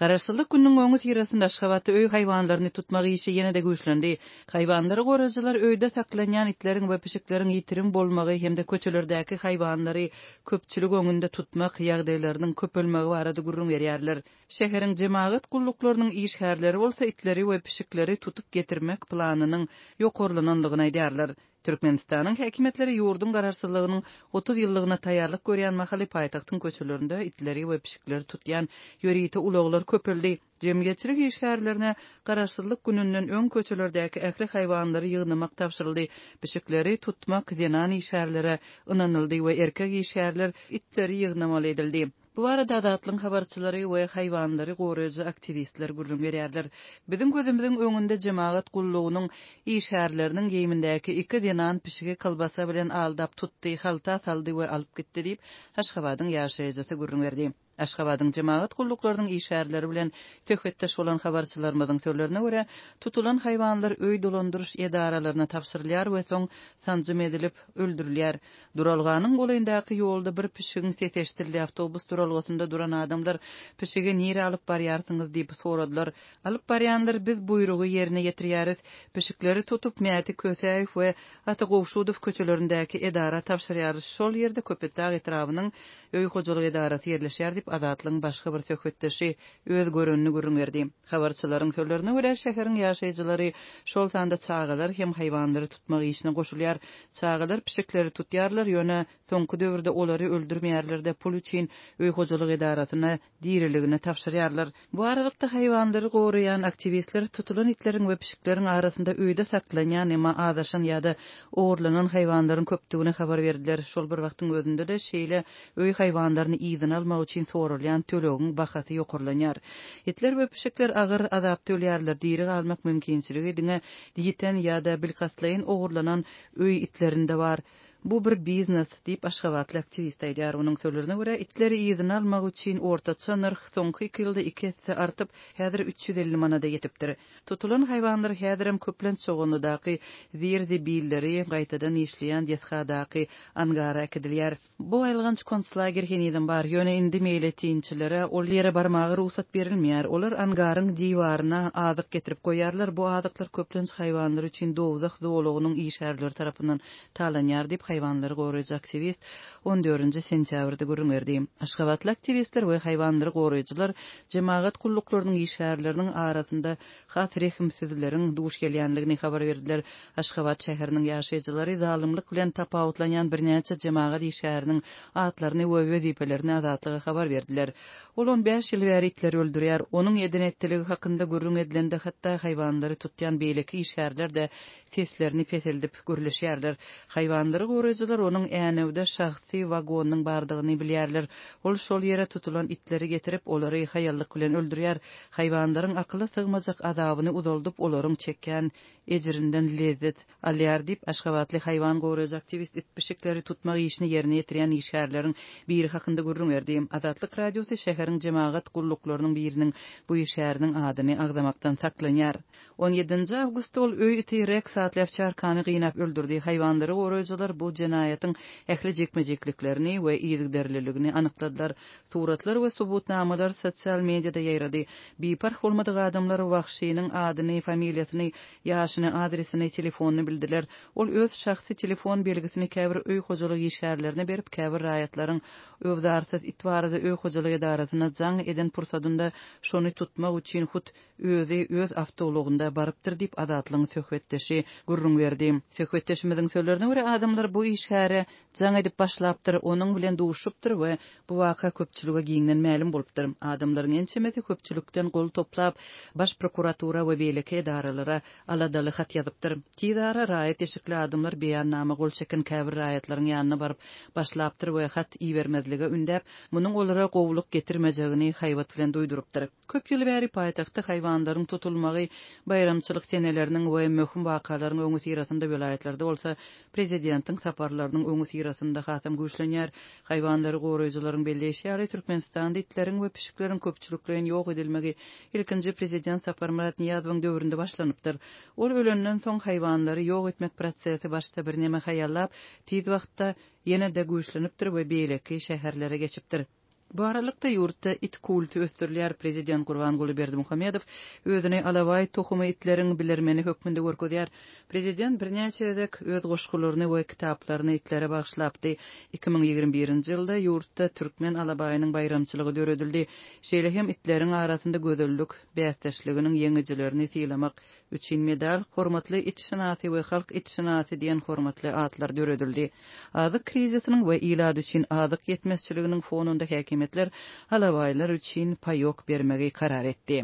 Garaşsyzlyk gününiň öňüsyrasynda Aşgabatda öý haýwanlaryny tutmak işi ýene-de güýçlendi. Haýwanlary gorajylar öýde saklanýan itleriň we pişikleriň ýitirim bolmagy hem-de köçelerdäki haýwanlary köpçülik öňünde tutmak ýagdaýlarynyň köpelmegi barada gürrüň berýärler. Şäheriň jemagat gulluklarynyň işgärleri bolsa itleri we pişikleri tutup getirmek planynyň ýokarlanandygyny aýdýarlar. Türkmenistanyň häkimiýetleri ýurduň garaşsyzlygynyň otuz ýyllygyna taýýarlyk görýän mahaly paýtagtyň köçelerinde itleri we pişikleri tutýan ýörite ulaglar köpeldi. Jemgyýetçilik işgärlerine Garaşsyzlyk gününden öň köçelerdäki ähli haýwanlary ýygnamak tabşyryldy. Pişikleri tutmak zenan işgärlere ynanyldy we erkek işgärler itleri ýygnamaly edildi. Bu barada Azatlygyň habarçylary we haýwanlary goraýjy aktiwistler gürrüň berýärler. Biziň gözümiziň öňünde jemagat gullugynyň işgärleriniň geýimindäki iki zenan pişigi kolbasa bilen aldap tutdy, halta saldy we alyp gitdi diýip, Aşgabadyň ýaşaýjysy gürrüň berdi. Aşgabadyň jemagat gulluklarynyň işgärleri bilen söhbetdeş bolan habarçylarymyzyň sözlerine görä, tutulan haýwanlar öý dolandyryş edaralaryna tabşyrylýar we soň sanjym edilip, öldürilýär. Duralganyň golaýyndaky ýolda bir pişigiň sesi eşidildi. Awtobus duralgasynda duran adamlar pişigi nirä alyp barýarsyňyz diýip soradylar. Alyp barýanlar biz buýrugy ýerine ýetirýäris. Pişikleri tutup Mäti Kösäýew we Ata Gowşudow köçelerindäki edara tabşyrýarys. Şol ýerde Köpetdag etrabynyň öý hojalyk edarasy ýerleşýär diýip Azatlygyň başga bir söhbetdeşi öz görenini gürrüň berdi. Habarçylaryň sözlerine görä, şäheriň ýaşaýjylary, şol sanda çagalar hem haýwanlary tutmak işine goşulýar. Çagalar pişikleri tutýarlar, ýöne soňky döwürde olary öldürmeýärler-de, pul üçin öý hojalyk edarasyna diriligini tabşyrýarlar. Bu aralykda, haýwanlary goraýan aktiwistler tutulan itleriň we pişikleriň arasynda öýde saklanýan, emma azaşan ýa-da ogurlanan haýwanlaryň köpdügini habar berdiler. Şol bir wagtyň özünde-de, şeýle Öý haýwanlaryny yzyna almak üçin soralýan tölegiň bahasy ýokarlanýar. Itler we pişikler agyr azap tölýärler, diri galmak mümkinçiligi diňe ýiten ýa-da bilkastlaýyn ogurlanan öý itlerinde bar. Bu bir biznes, diýip, aşgabatly aktiwist aýdýar. Onuň sözlerine görä, itleri yzyna almak üçin ortaça nyrh soňky iki ýylda iki esse artyp, häzir üç ýüz elli manada ýetipdir. Tutulan haýwanlar häzirem köplenç Çoganlydaky Zir-zibilleri, gaýtadan işleýän desgadaky angara äkidilýär. Bu aýylganç konslager henizem bar, ýöne indi meýletinçilere ol ýere barmaga rugsat berilmeýär. Olar angaryň diwaryna azyk getirip goýýarlar, bu azyklar köplenç haýwanlar üçin dowzah zolagynyň işgärleri tarapyndan talanýar diýip, haýwanlary goraýjy aktiwist on dördünji sentýabrda gürrüň berdi. Aşgabatly aktiwistler we haýwanlary goraýjylar jemagat gulluklarynyň işgärleriniň arasynda has rehimsizleriň duş gelýändigini habar berdiler. Aşgabat şäheriniň ýaşaýjylary zalymlyk bilen tapawutlanýan birnäçe jemagat işgäriniň atlaryny we wezipelerini Azatlyga habar berdiler. Ol on bäş ýyl bäri itleri öldürýär. Onuň eden-etdiligi hakynda gürrüň edilende hatda haýwanlary tutýan beýleki işgärler-de seslerini peseldip gürleşýärler. Haýwanlary goraýjylar onuň Änewde şahsy wagonynyň bardygyny bilýärler. Ol şol ýere tutulan itleri getirip, olary haýallyk bilen öldürýär. Haýwanlaryň akyla sygmajak azabyny uzaldyp, olaryň çekýän ejirinden lezzet, alýar diýip, aşgabatly haýwan goraýjy aktiwist it-pişikleri tutmak işini ýerine ýetirýän işgärleriň biri hakynda gürrüň berdi. Azatlyk Radiosy şäheriň jemagat gulluklarynyň biriniň bu işgäriniň adyny agzamakdan saklanýar. On ýedinji awgustda ol öý iti Reks atly awçarkany gynap öldürdi. Haýwanlary goraýjylar bu jenaýatyň ähli jikme-jikliklerini we yzygiderliligini anykladylar. Suratlar we subutnamalar sosial mediada ýaýrady. Biparh bolmadyk adamlar wagşynyň adyny, familiýasyny, ýaşyny, adresini, telefonyny bildiler. Ol öz şahsy telefon belgisini käbir öý hojalyk işgärlerine berip, käbir raýatlaryň öwzarsyz it barada öý hojalyk edarasyna jaň eden pursadynda şony tutmak üçin hut Özi öz awtoulagynda barypdyr diýip, Azatlygyň söhbetdeşi gürrüň berdi. Söhbetdeşimiziň sözlerine görä, adamlar bu işgäre jaň edip başlapdyr, onuň bilen duşupdyr we bu waka köpçülige giňden mälim bolupdyr. Adamlaryň ençemesi köpçülikden gol toplap, Baş prokuratura we beýleki edaralara aladaly hat ýazypdyr. Tiz ara raýat eşikli adamlar beýannama gol çeken käbir raýatlaryň ýanyna baryp başlapdyr we hat ibermezlige ündäp, munuň olara gowulyk getirmejegini haýbat bilen duýdurypdyr. Köp ýyl bäri paýtagtda haýwanlaryň tutulmagy, baýramçylyk seneleriniň we möhüm wakalaryň öňüsyrasynda welaýatlarda bolsa prezidentiň saparlarynyň öňüsyrasynda hasam güýçlenýär. Haýwanlary goraýjylaryň belleýşi ýaly, Türkmenistanda itleriň we pişikleriň köpçülikleýin ýok edilmegi ilkinji prezident Saparmyrat Nyýazowyň döwründe başlanypdyr. Ol ölenden soň haýwanlary ýok etmek prosesi başda birneme haýallap, tiz wagtda ýene-de güýçlenipdir we beýleki şäherlere geçipdir. Bu aralykda, ýurtda it kulty ösdürilýär. Prezident Gurbanguly Berdimuhamedow özüni alabaý tohumy itleriň bilermeni hökmünde görkezýär. Prezident birnäçe gezek öz goşgularyny we kitaplaryny itlere bagyşlapdy. Iki müň ýigrimi birinji ýylda ýurtda Türkmen alabaýynyň baýramçylygy döredildi. Şeýle hem itleriň arasynda gözellik bäsdeşliginiň ýeňijilerini sylamak üçin medal, Hormatly itşynasy we Halk itşynasy diýen hormatly atlar döredildi. Azyk krizisiniň we ilat üçin azyk ýetmezçiliginiň fonunda häkimiýetler alabaýlar üçin paýok bermegi karar etdi.